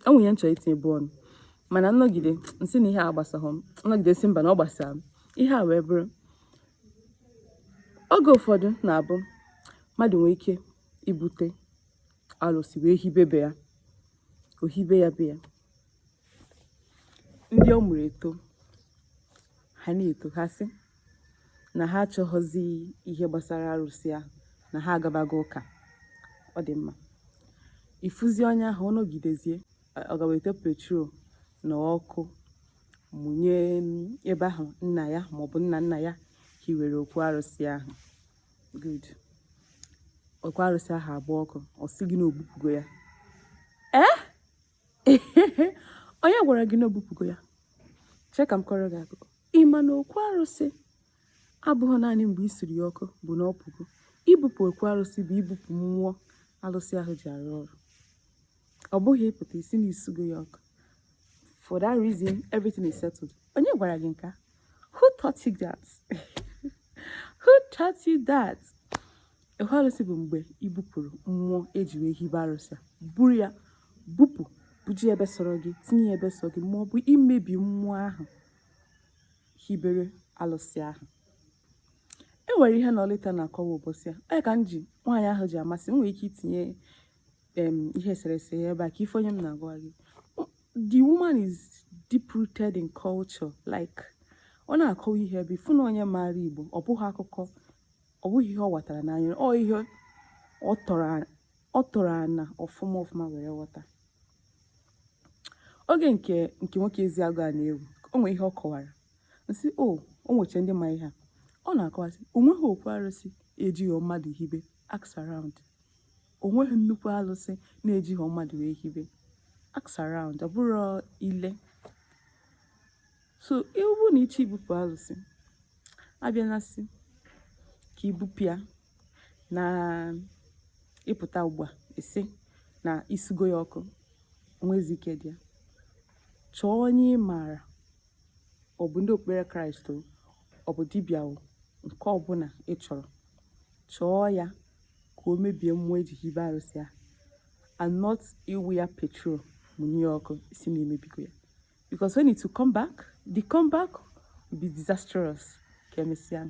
o nwere ihe m chọrọ itinyebu ọnụ mana m nọgide m sị na ihe a gbasaghọ m m nọgide sị mba na ọ gbasara m ihe a wee bụrụ oge ụfọdụ na-abụ mmadụ nwee ike ibute alụsị wee hibe be ya o hibe ya be ya ndị ọ mụrụ etoo ha na-eto ha sị na ha achọghọzi ihe gbasara arụsị ahụ na ha agabago ụka ọ dị mma ị fụzi onye ahụ ọ nọgidezie ọ gaa wete petrol na ọkụ mụnye ebe ahụ nna ya maọbụ nna nna ya hiwere okwu arụsị ahụ good okwu arụsị ahụ agba ọkụ ọ sị gị na o bupụgo ya ee onye gwara gị na o bupụgo ya chee ka m kọọrọ gị akụkọ ị ma na okwu arụsị abụghị naanị mgbe i suru ya ọkụ bụ na ọ pụgo ibupụ okwu arụsị bụ ibupụ mmụọ alụsị ahụ ji arụ ọrụ ọ bụghị ị pụta ị sị na i sugo ya ọkụ for that reason everything is settled onye gwara gị nke a who taught you that who taught you that Okwu arụsị bụ mgbe i bupụrụ mmụọ e ji wee hibe arụsị a, buru ya bupụ buje ebe sọrọ gị tinye ya ebe sọrọ gị ma ọ bụ imebi mmụọ ahụ hibere alụsị ahụ e nwere ihe na ọlịta na-akọwa ụbọchị a onye ka m ji nwaanyị ahụ ji amasị m nwere ike itinye ihe eserese ya ebe a ka ị fụ onye m na-agwa gị the woman is deep rooted in culture like ọ na-akọwa ihe ebe ị fụ na onye maara igbo ọ bụghị akụkọ ọ bụghị ihe ọ ghọtara n'anya ọ ihe ọ tọrọ ana ọfụma ọfụma were ghọta oge nke nke nwoke eziagụ a na-ewu o nwee ihe ọ kọwara m sị o o nweche ndị ma ihe a ọ na-akọwasị o nweghị okwu arụsị ejighị mmadụ hibe ask around o nweghị nnukwu alụsị na e jighị mmadụ wee hibe ask around ọ bụrụ ile so ọ bụrụ na ị chọ ibupụ alụsị abịana sị ka i bupụ ya na ị pụta ugbu a ị sị na i sugo ya ọkụ nwezi ike dị ya chọọ onye ị maara ọ bụ ndị okpukpere kraịst o ọ bụ dibịa o nke ọbụla ị chọrọ chọọ ya ka o mebie mmụọ e ji hibe arụsị a and not ịwụ ya petrol mụnye ọkụ ị sị na i mebigo ya because when it will come back the comeback will be disastrous ka emesịa